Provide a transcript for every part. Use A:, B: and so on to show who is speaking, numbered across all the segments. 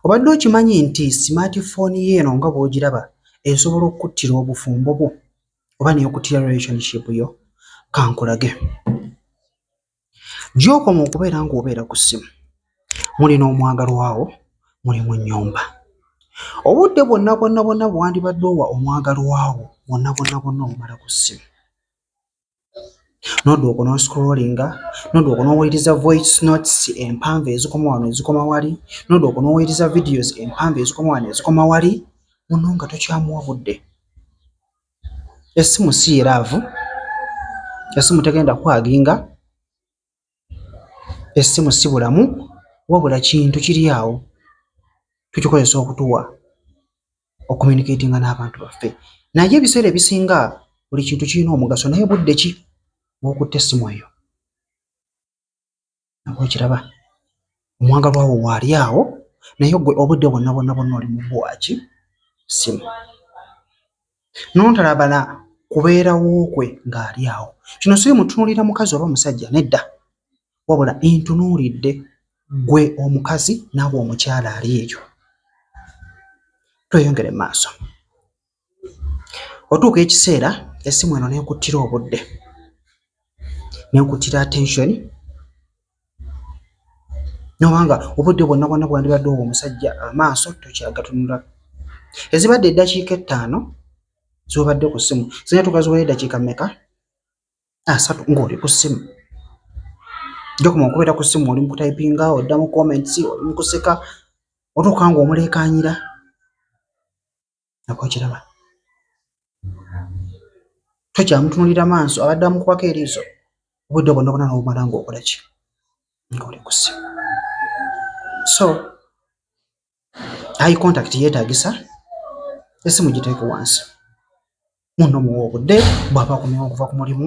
A: Obadde okimanyi nti smart phone yo eno nga bw'ogiraba esobola okukuttira obufumbo bwo oba n'ekuttira relationship yo? Kankulage. Gy'okoma okubeera ng'obeera ku ssimu muli n'omwagalwa wo, muli mu nnyumba. Obudde bwonna bwonna bwonna bwe wandibadde owa omwagalwa wo bwonna bwonna bwonna obumala ku ssimu. n'odduka okunonsikulolinga, n'odduka okunoowuliriza voice notes empanvu ezikoma wano ezikoma wali, n'odduka okunoowuliriza videos empanvu ezikoma wano ezikoma wali, muno nga tokyamuwa budde. Essimu si ye laavu, essimu tegenda kukwaginga. Essimu si bulamu wabula kintu kiri awo tukikozesa okutuwa okumyunikeetinga n'abantu baffe. Naye ebiseera ebisinga buli kintu kirina omugaso naye budde ki bw'okutte essimu eyo? Nabwe okiraba. omwagalwa wo waali awo naye gwe obudde bwonna bwonna bwonna oli mu bwaki simu nontalabana kubeerawo kwe ng'ali awo kino siri mutunuulira mukazi oba omusajja nedda wabula ntunuulidde gwe omukazi naawe omukyala ali eyo tweyongere maaso Otuuka ekiseera essimu eno n'ekuttira obudde, n'ekuttira attention n'oba nga obudde bwonna bwonna bwe wandibadde owa omusajja amaaso tokyagatunula. Ezibadde eddakiika ettaano z'obadde ku ssimu zirina okutuuka ziweze eddakiika mmeka? Asatu ng'oli ku ssimu. Gy'okoma okubeera ku ssimu oli mu kutayipinga, odda mu comments, oli mu kuseka otuuka ng'omuleekaanira. nako kiraba tokyamutunulira maaso abadde amukubako eriiso obudde bwonna bwona nobumala ngaokola ki ngaoli kusi so ayi contact yeetagisa esimu giteeke wansi muno muwa obudde bwaba akomyewo okuva ku mulimu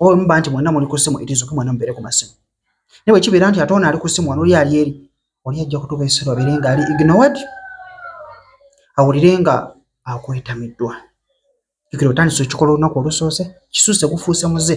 A: oba muba nti mwena muli ku ssimu itizuke mwena mubeere ku masimu naye bwekibeera nti ate ono ali ku ssimu wano oli ali eri oli ajja kutuuka ekiseera obeere nga ali ignored awulire nga akwetamiddwa jukira otandise okikola olunaku olusoose kisuuse gufuuse muze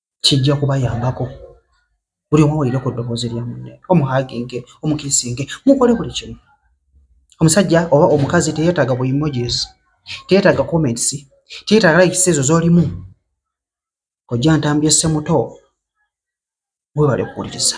A: kijja kubayambako buli omu awulire ku ddoboozi lya munne omuhaginge omukisinge mukole buli kimu omusajja oba omukazi teyetaaga bu emojis teyetaaga comments teyetaaga likes ezo z'olimu ojja ntambye ssemuto webale kuwuliriza